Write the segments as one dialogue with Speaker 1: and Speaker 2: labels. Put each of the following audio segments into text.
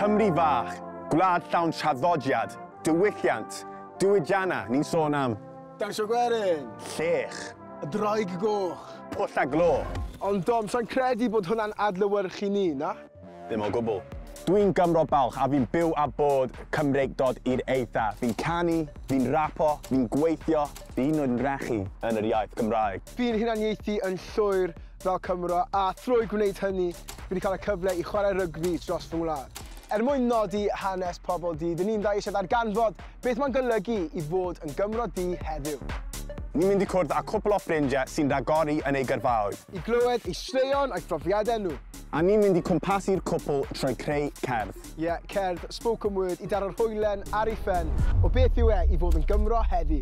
Speaker 1: Cymru fach, gwlad llawn traddodiad, diwylliant, diwydianna, ni'n sôn am. Dawnsio gwerin.
Speaker 2: Llech.
Speaker 1: Y Ddraig
Speaker 2: Goch. Pwll a glo.
Speaker 1: Ond Dom, sai'n
Speaker 2: credu bod hwnna'n adlewyrchu ni, na? Ddim o gwbl.
Speaker 1: Dwi'n Gymro balch a fi'n byw a bod Cymreicdod i'r eitha. Fi'n canu, fi'n rapo, fi'n gweithio, fi hyd yn oed yn rhechu yn yr iaith Gymraeg. Fi'n hunaniaethu
Speaker 2: yn llwyr. fel Cymro a thrwy gwneud hynny fi wedi cael y cyfle i chwarae rygbi dros fy ngwlad. Er mwyn nodi hanes pobl du, dyn ni'n dda eisiau darganfod beth mae'n golygu i fod yn Gymro du heddiw. Ni'n mynd i
Speaker 1: cwrdd â cwpl o ffrindiau sy'n rhagori yn eu gyrfaoedd. I glywed eu
Speaker 2: straeon a'u profiadau nhw. A ni'n mynd i
Speaker 1: cwmpasu'r cwpl trwy creu cerdd. Ie, cerdd,
Speaker 2: spoken word, i daro'r hoelen ar ei phen o beth yw e i fod yn Gymro heddi.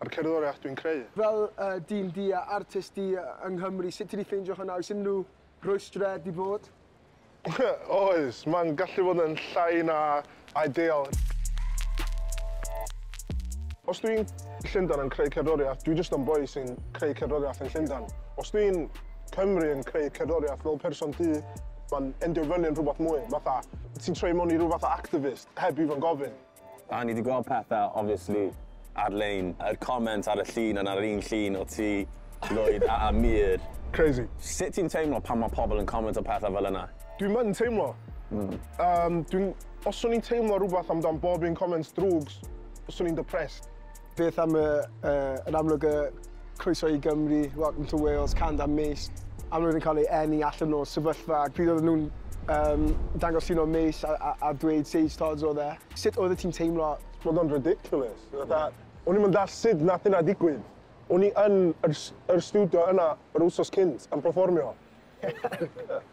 Speaker 3: A'r cerddoriaeth dwi'n creu. Fel dyn du a artist du yng Nghymru, sut ti 'di ffeindio hwnna? Oes unrhyw rwystre 'di bod? Oes, mae'n gallu bod yn llai na ideal. Os dwi yn Llundain yn creu cerddoriaeth, dwi jyst yn boi sy'n creu cerddoriaeth yn Llundain. Os dwi yn Cymru yn creu cerddoriaeth fel person du, mae'n endio fyny yn rhywbeth mwy, fatha ti'n troi mewn i ryw fath o activist heb even gofyn. A ni 'di gweld
Speaker 1: pethe obviously ar-lein, yr comment ar y llun a 'na'r un llun o ti, Lwyd a Amir. Crazy. Sut
Speaker 3: ti'n teimlo
Speaker 1: pan ma' pobl yn comentio pethe fel yna? Dwi'm yn teimlo.
Speaker 3: Yym dwi'n... Os o'n i'n teimlo rwbath amdan bob un comment drwg, 'swn i'n depressed. Beth am y, uh, yn amlwg y croeso i Gymru, welcome to Wales, can da Mace. Amlwg yn cael ei enni allan o'r sefyllfa. Pryd oedden nhw'n um, dangos un o Mace a, a, a dweud Sage Tods oedd e. Sut oedd y ti'n teimlo? Mae'n o'n ridiculous. Fatha, o'n i'n mynd all sut nath yna digwydd. O'n i yn yr, yr studio yna yr wsos cynt yn performio.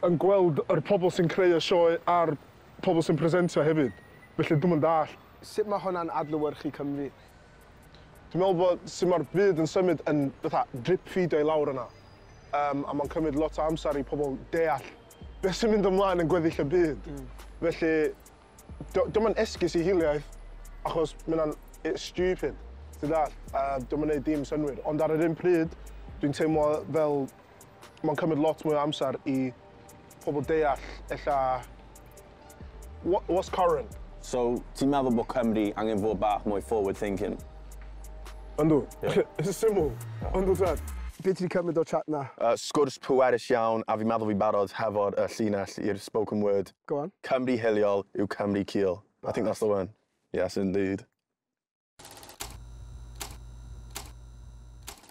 Speaker 3: yn gweld yr pobl sy'n creu y sioe a'r pobl sy'n presentio hefyd. Felly dwi'n mynd all. Sut mae hwnna'n adlewyrchu Cymru? Dwi'n meddwl bod sut mae'r byd yn symud yn fatha drip-ffîdio i lawr yna, yym, a mae'n cymryd lot o amser i pobl deall beth sy'n mynd ymlaen yn gweddill y byd. Felly, dio- dio'm yn esgus i hiliaeth, achos ma' hynna'n yy stupid, ti'n dallt? A dio'm yn neud dim synnwyr. Ond ar yr un pryd, dwi'n teimlo fel mae'n cymryd lot mwy o amser i pobl deall ella what, what's current. So, ti'n meddwl
Speaker 1: bod Cymru angen fod bach mwy forward thinking?
Speaker 3: Yndw. Yeah. It's syml. Yndw, Tad. Be ti wedi cymryd o'r chat na? Uh, sgwrs pwerus
Speaker 1: iawn, a fi'n meddwl fi'n barod hefo'r uh, llinell i'r spoken word. Go on. Cymru
Speaker 3: hiliol yw
Speaker 1: Cymru cul. I think that's the one. Yes, indeed.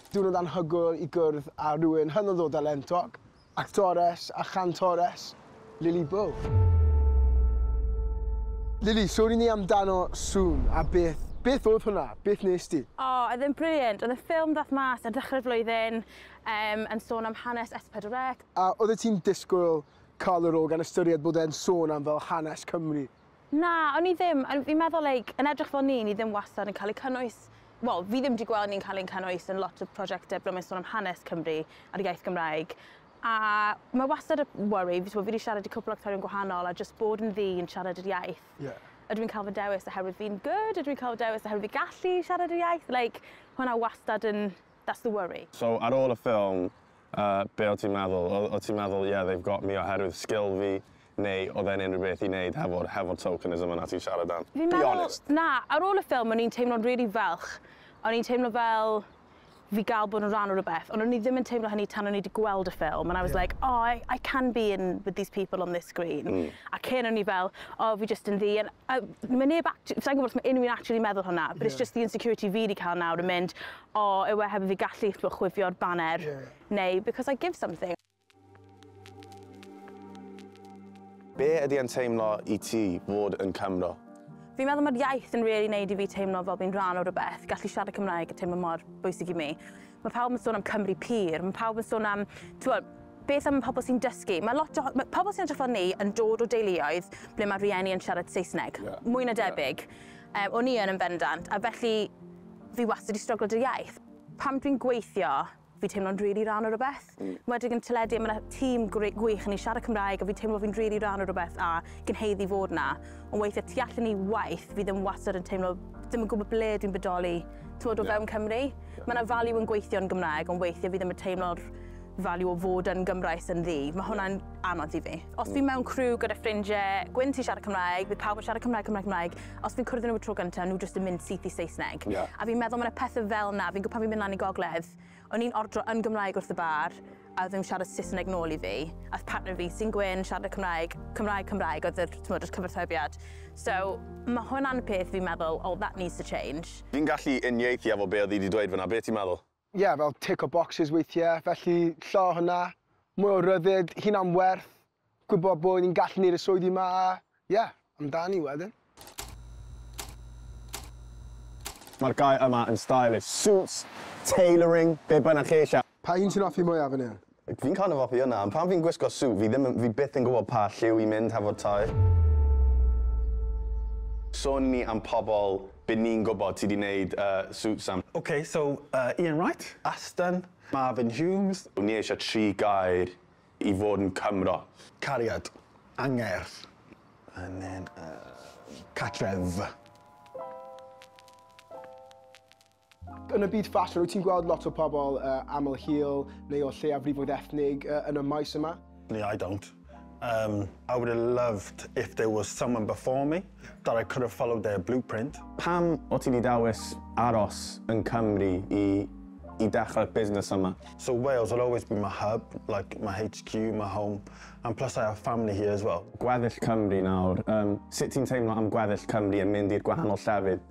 Speaker 2: Diwrnod anhygoel i gwrdd â rhywun hynod o dalentog, actores a chantores, Lily Bow. Lily, sôn i ni amdano Sŵn a beth, beth oedd hwnna? Beth nes di? O, oedd e'n brilliant.
Speaker 4: Oedd y ffilm ddaeth mas ar ddechrau'r flwyddyn, um, yn sôn am hanes S4C. A oeddet ti'n
Speaker 2: disgwyl cael y rôl gan ystyried bod e'n sôn am fel hanes Cymru? Na, o'n i
Speaker 4: ddim. O'n, fi'n meddwl like, yn edrych fel ni, ni ddim wastad yn cael eu cynnwys, wel, fi ddim wedi gweld ni'n cael ein cynnwys yn lot o prosiectau ble mae'n sôn am hanes Cymru a'r iaith Gymraeg. A mae wastad y worry, fi wedi siarad i cwpl o actorion gwahanol a jyst bod yn ddu yn siarad yr iaith. Yeah. Ydw i'n cael fy dewis oherwydd fi'n good? Ydw i'n cael fy dewis oherwydd fi gallu siarad yr iaith? Like, hwnna wastad yn, that's the worry. So, ar ôl y ffilm,
Speaker 1: uh, be o ti'n meddwl? O, o ti'n meddwl, yeah, they've got me oherwydd sgil fi, Neu oedd e'n unrhyw beth i wneud hefo'r hefo'r tokenism yna ti'n siarad am? Fi'n meddwl... Be honest. Na, ar ôl y ffilm
Speaker 4: o'n i'n teimlo'n rili falch. O'n i'n teimlo fel fi ga'l bod yn rhan o rwbeth, ond o'n i ddim yn teimlo hynny tan o'n i 'di gweld y ffilm and I was like oh I I can be in with these people on this screen. Hmm. A cyn o'n i fel o fi jyst yn ddu and a ma' neb act- sai'n gwbod os ma' unrhyw un actually meddwl hwnna but it's just the insecurity fi 'di ca'l nawr yn mynd o yw e heb i fi gallu chwifio'r baner neu because I give something.
Speaker 1: Be ydy e'n teimlo i ti fod yn Cymro? Fi'n meddwl mae'r
Speaker 4: iaith yn really neud i fi teimlo fel fi'n rhan o rhywbeth. Gallu siarad Cymraeg yn teimlo mor bwysig i mi. Mae pawb yn sôn am Cymru pur, mae pawb yn sôn am, t'wod, beth am pobl sy'n dysgu. Mae lot o... Mae pobl sy'n edrych fel ni yn dod o deuluoedd ble mae rhieni yn siarad Saesneg. Yeah. Mwy na debyg. Yeah. Um, o'n i yn yn bendant, a felly fi wastad wedi stryglo 'da iaith. Pam dwi'n gweithio Fi'n teimlo'n rili rhan o rywbeth. Mm. Enwedig yn teledu a ma' 'na tîm gre- gwych yn ei siarad Cymraeg a fi'n teimlo fi'n rili rhan o rywbeth a gyn haeddu fod 'na. Ond weithiau tu allan i waith fi ddim wastad yn teimlo ddim yn gwybod ble dwi'n bodoli t'mod o yeah. fewn Cymru. Yeah. Mae 'na value yn gweithio yn Gymraeg ond weithiau fi ddim yn teimlo'r value o fod yn Gymraes yn ddi. Mae hwnna'n anodd i fi. Os fi mm. mewn crew gyda ffrindiau gwyn sy'n siarad Cymraeg, bydd pawb yn siarad Cymraeg, Cymraeg, Cymraeg. os dwi'n cwrdd nhw y tro gyntaf, nhw jyst yn mynd syth i Saesneg. Yeah. A fi'n meddwl mae yna pethau fel na, fi'n gwybod pan fi'n mynd lan i gogledd, o'n i'n ordro yn Gymraeg wrth y bar, a ddim siarad Saesneg nôl i fi. A partner fi sy'n gwyn, siarad y Cymraeg, Cymraeg, Cymraeg, oedd yr, tmod, yr cyfarthrebiad. So, mae hwnna'n peth fi'n meddwl, oh, that needs to change. Fi'n gallu unieithu
Speaker 1: efo be oedd hi wedi dweud fyna, be ti'n meddwl? ie, fel tick o
Speaker 3: bocsys weithie, felly llo o hwnna, mwy o ryddid, hunan werth, gwybod bod ni'n gallu neud y swyddi 'ma a, ie, amdani wedyn.
Speaker 1: Mae'r gair yma yn stylish. Suits, tailoring, be' bynnag chi eisiau. Pa un sy'n offi mwyaf fan
Speaker 3: hyn? Fi'n kind of hoffi hwnna,
Speaker 1: ond pan fi'n gwisgo suit fi ddim yn, fi byth yn gwybod pa lliw i mynd hefo tŷ. Sôn ni am pobl by ni'n gwybod sy 'di neud yy suits am. Ok, so yy
Speaker 5: Ian Wright, Aston, Marvin Humes. Wn i eisiau tri
Speaker 1: gair i fod yn Cymro. Cariad.
Speaker 5: Angerdd. And then yy cartref.
Speaker 3: Yn y byd ffasiwn, wyt ti'n gweld lot o pobl uh, aml hil neu o lleiafrifoedd ethnig uh, yn y maes yma? No, I don't.
Speaker 5: Um, I would have loved if there was someone before me that I could have followed their blueprint. Pam o ti wedi
Speaker 1: dawis aros yn Cymru i i dechrau'r busnes yma? So Wales will always
Speaker 5: be my hub, like my HQ, my home, and plus I have family here as well. Gweddill Cymru nawr,
Speaker 1: um, sut ti'n teimlo am gweddill Cymru yn mynd i'r gwahanol llefydd?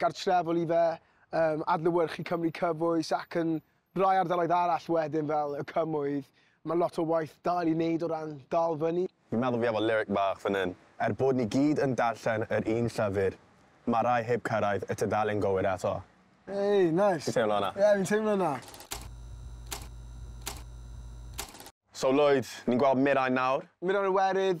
Speaker 3: gartrefol i fe, yn adlewyrchu Cymru cyfoes ac yn rai ardaloedd arall wedyn fel y Cymoedd, mae lot o waith dal i wneud o ran dal fyny. Fi'n meddwl fi efo lyric
Speaker 1: bach fan hyn. Er bod ni gyd yn darllen yr un llyfr, mae rhai heb cyrraedd y tudalen gywir eto. Hey, nice.
Speaker 3: Ti'n teimlo hwnna? Ie, fi'n teimlo
Speaker 1: hwnna. So Lloyd, ni'n gweld Mirain nawr. Mirain Iwerydd,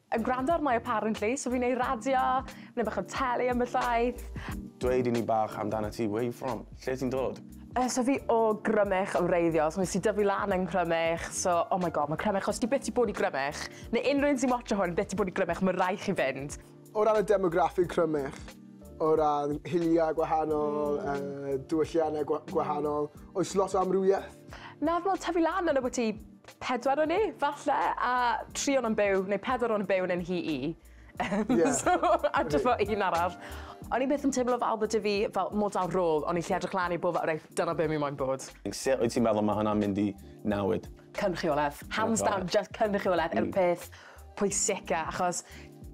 Speaker 6: Yn gwrando ar my apparently, so fi'n ei raddio, neu bach o teli ambell waith. Dweud i ni
Speaker 1: bach amdanat ti, where you from? Lle ti'n dod? Yy so fi o
Speaker 6: Grymych yn wreiddiol, so nes i dyfu lan yn Nghrymych, so oh my god ma' Crymych, os ti byth di bod i Grymych, neu unrhyw un sy'n watsio hwn byth di bod i Grymych ma' rai' chi fynd. O ran y demograffig
Speaker 3: Crymych, o ran hiliau gwahanol, yy diwylliannau gwa- gwahanol, oes lot o amrywieth? Na, fi'n meddwl tyfu
Speaker 6: lan yn Aberty Pedwar o ni, falle, a tri o nhw'n byw, neu pedwar o'n byw yn yn hi i. Yeah. so, a just fel un arall. O'n i byth yn teimlo fel bod fi fel model rôl, o'n i lle edrych lan i bod fel, reit, dyna be mi moyn bod. Sut wyt ti'n meddwl mae
Speaker 1: hwnna'n mynd i nawyd? Cynrychiolaeth.
Speaker 6: Hands down, just cynrychiolaeth yw'r peth pwysica achos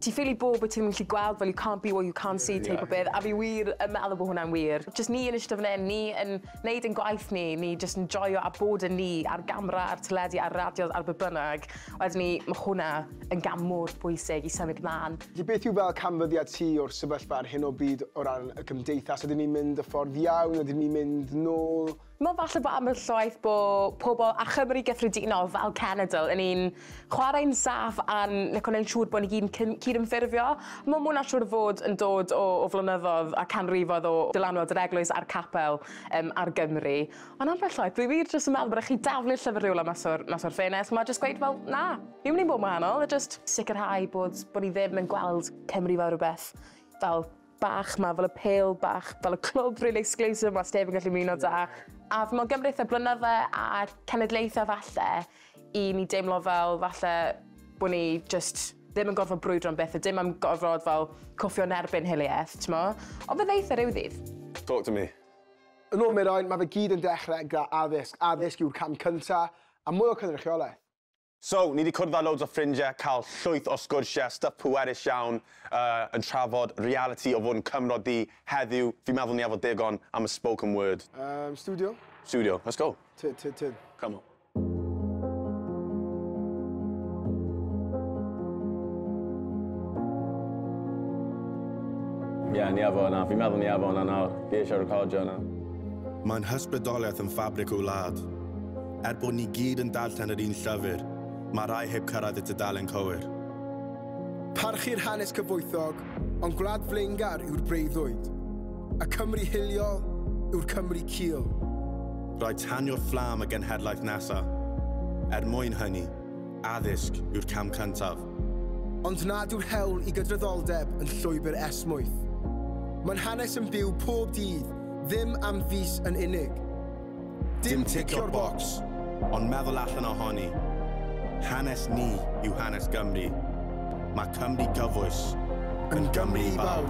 Speaker 6: ti ffili bod bo' ti'm yn gallu gweld fel you can't be what you can't see teip o beth a fi wir yn meddwl bo' hwnna'n wir. Jyst ni yn ishte fan 'yn, ni yn neud ein gwaith ni, ni jyst yn joio a bod yn ni a'r gamra a'r teledu a'r radio ar be' bynnag wedyn 'ny ma' hwnna yn gam mor bwysig i symud mlan. Felly beth yw fel canfyddiad
Speaker 3: ti o'r sefyllfa ar hyn o bryd o ran y gymdeithas? Ydyn ni'n mynd y ffordd iawn, ydyn ni'n mynd nôl? Mae falle
Speaker 6: bod ambell waith bod pobl a Chymru gyffredinol fel cenedl yn un chwarae'n saff a'n like, gwneud siŵr bod ni gyd yn cydymffurfio. Mae mwyn siŵr fod yn dod o, o flynyddoedd a canrifoedd o dylanwad yr eglwys a'r capel um, ar Gymru. Ond ambell waith, dwi wir jyst yn meddwl bod rhaid chi daflu llyfr rhywle mas o'r, mas o'r ffenest. Mae jyst gweud, fel, na, fi'n mynd i'n bod yn wahanol, a jyst sicrhau bod, bod ni ddim yn gweld Cymru fel rhywbeth fel bach 'ma, fel y pêl bach, fel y clwb rili exclusive 'ma sneb yn gallu ymuno 'da. A fi me'wl gymrith y blynydde a cenedlaetha falle i ni deimlo fel falle bo' ni jyst ddim yn gorfod brwydro am byth a dim am gorfod fel cwffio yn erbyn hilieth, t'mo'? Ond fe ddeith e ryw ddydd. Talk to me.
Speaker 1: Yn ôl Mirain,
Speaker 2: mae fe gyd yn dechrau gyda addysg. Addysg yw'r cam cynta, a mwy o cynrychiolaeth. So, ni 'di
Speaker 1: cwrdd â loads o ffrindie, cael llwyth o sgwrsie, stwff pwerus iawn, yy, yn trafod realiti o fod yn Cymro du, heddiw, fi'n meddwl ni 'ave got digon am y spoken word. Yym, stiwdio?
Speaker 2: Stiwdio, let's go.
Speaker 1: Tyd, tyd, tyd. Come on. Ie, ni 'ave hwnna, fi'n meddwl ni 'ave hwnna nawr, fi eisiau recordio hwnna. Mae'n
Speaker 7: hysbrydoliaeth yn ffabric y wlad. Er bod ni gyd yn darllen yr un llyfr, mae rhai heb cyrraedd y tudalen cywir.
Speaker 2: Parchu'r hanes cyfoethog, ond gwlad flaengar yw'r breuddwyd. Y Cymru hiliol yw'r Cymru cul. Rhaid
Speaker 7: tanio'r fflam y genhedlaeth nesaf. Er mwyn hynny, addysg yw'r cam cyntaf. Ond nad
Speaker 2: yw'r hewl i gydraddoldeb yn llwybr esmwyth. Mae'n hanes yn byw pob dydd, ddim am fis yn unig. Dim
Speaker 7: ticio'r bocs, ond meddwl allan ohoni. Hanes ni yw hanes Gymru. Mae Cymru gyfoes. Yn Gymru i bawb!